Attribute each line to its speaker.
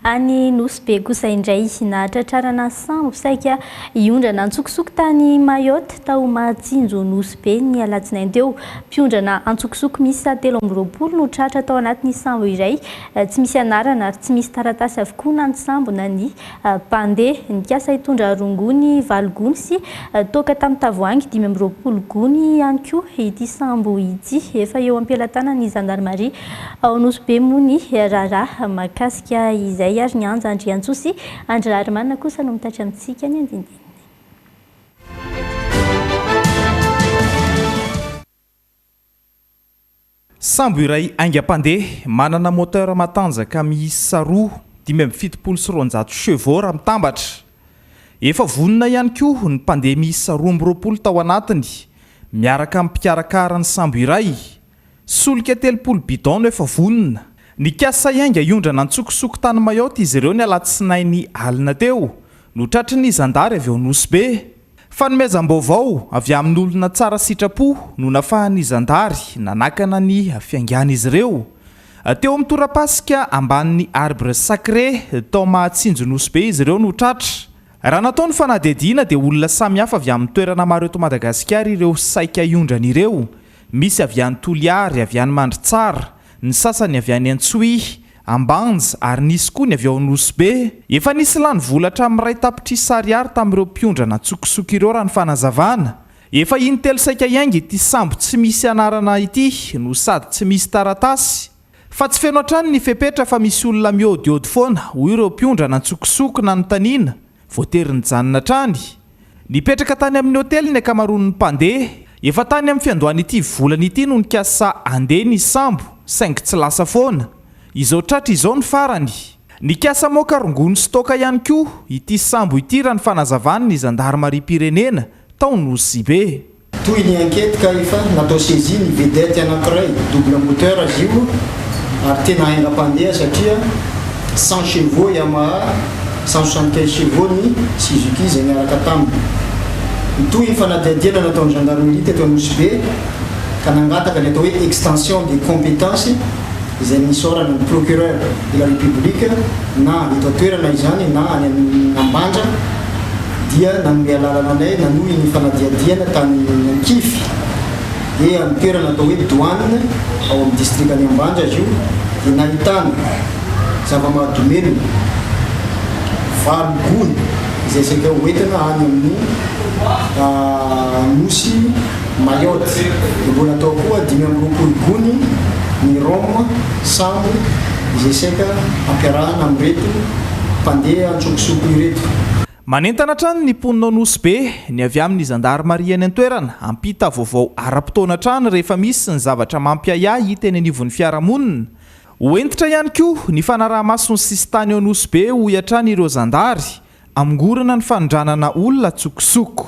Speaker 1: Any Nosy Be kosa indray, nahatratrarana sambo saika hiondrana antsokosoko tany Mayotte, tao Mahatsinjo Nosy Be, ny alatsinainy teo. Mpiondrana antsokosoko miisa telo amby roapolo no tratra tao anatin'ny sambo iray tsy misy anarana ary tsy misy taratasy avokoa na ny sambo na ny mpandeha. Nikasa hitondra rongony valo gony sy toaka tamin'ny tavoahangy dimy amby roapolo gony ihany koa ity sambo ity, efa eo am-pelatanan'ny zandarimaria. Ao Nosy Be moa ny raharaha mahakasika izay ary ny Anja Andriantsoa sy Andry Raharimanana kosa no mitaitra amintsika ny andinindininy.
Speaker 2: Sambo iray haingam-pandeha, manana moteur matanjaka miisa roa, dimy amby fitopolo sy roanjato chevaux raha mitambatra. Efa vonona ihany koa ny mpandeha miisa roa amby roapolo tao anatiny, miaraka amin'ny mpikarakara ny sambo iray. Solika telopolo bidon no efa vonona. Nikasa hiainga hiondrana an-tsokosoko tany Mayotte izy ireo ny alatsinainy alina teo, no tratry ny zandary avy ao Nosy Be. Fanomezam-baovao avy amin'olona tsara sitrapo no nafahan'ny zandary nanakana ny fiaingan'izy ireo. Teo amin'ny tora-pasika ambanin'ny Arbre sacré tao Mahatsinjo Nosy Be izy ireo no tratra. Raha natao ny fanadihadiana dia olona samihafa avy amin'ny toerana maro eto Madagasikara ireo saika hiondrana ireo. Misy avy any Toliary, avy any Mandritsara, ny sasany avy any Antsohihy, Ambanja ary nisy koa ny avy ao Anosibe. Efa nisy lany vola hatramin'ny iray tapitrisa ariary tamin'ireo mpiondra natsokosoko ireo raha ny fanazavana. Efa in-telo saika hiainga ity sambo tsy misy anarana ity no sady tsy misy taratasy. Fa tsy feno hatrany ny fepetra fa misy olona miôdiôdy foana, hoy ireo mpiondra nantsokosoko nanontaniana. Voatery nijanona hatrany. Nipetraka tany amin'ny hotely ny ankamaroan'ny mpandeha. Efa tany amin'ny fiandohan'ity volana ity no nikasa handeha ny sambo saingy tsy lasa foana. Izao tratra izao ny farany. Nikasa hamoaka rongony sy toaka ihany koa ity sambo ity raha ny fanazavan'ny zandarimariam-pirenena tao Nosy-be. Toy ny enquête
Speaker 3: ka efa natao saisie ny vedette anankiray, double moteur izy io ary tena haingam-pandeha satria cent chevaux Yamaha, cent soixante quinze chevaux ny Suzuki izay niaraka taminy. Nitohy ny fanadihadiana nataon'ny gendarmerie teto Anosibe ka nangataka ny atao hoe extension des competences izay nisaorana ny procureur de la République na eto an-toerana izany na any amin'ny Ambanja, dia nanome alalana anay nanohy ny fanadihadihana tany Ankivy, dia amin'ny toerana atao hoe Douanes ao amin'ny distrikan'i Ambanja izy io, dia nahitana zava-mahadomelina valo gony izay saika ho entina any amin'ny Nosy. Mayotte, mbola tao koa dimy amby roapolo gony ny rhum, sambo, izay saika ampiarahana amin'ireto mpandeha an-tsokosoko ireto. Manentana
Speaker 2: hatrany ny mponina ao Nosy Be ny avy amin'ny zandarimaria any an-toerana hampita vaovao ara-potoana hatrany rehefa misy ny zavatra mampiahiahy hita eny anivon'ny fiarahamonina. Ho hentitra ihany koa ny fanaraha-maso ny sisintany ao Nosy Be hoy hatrany ireo zandary, hamongorana ny fanondranana olona an-tsokosoko.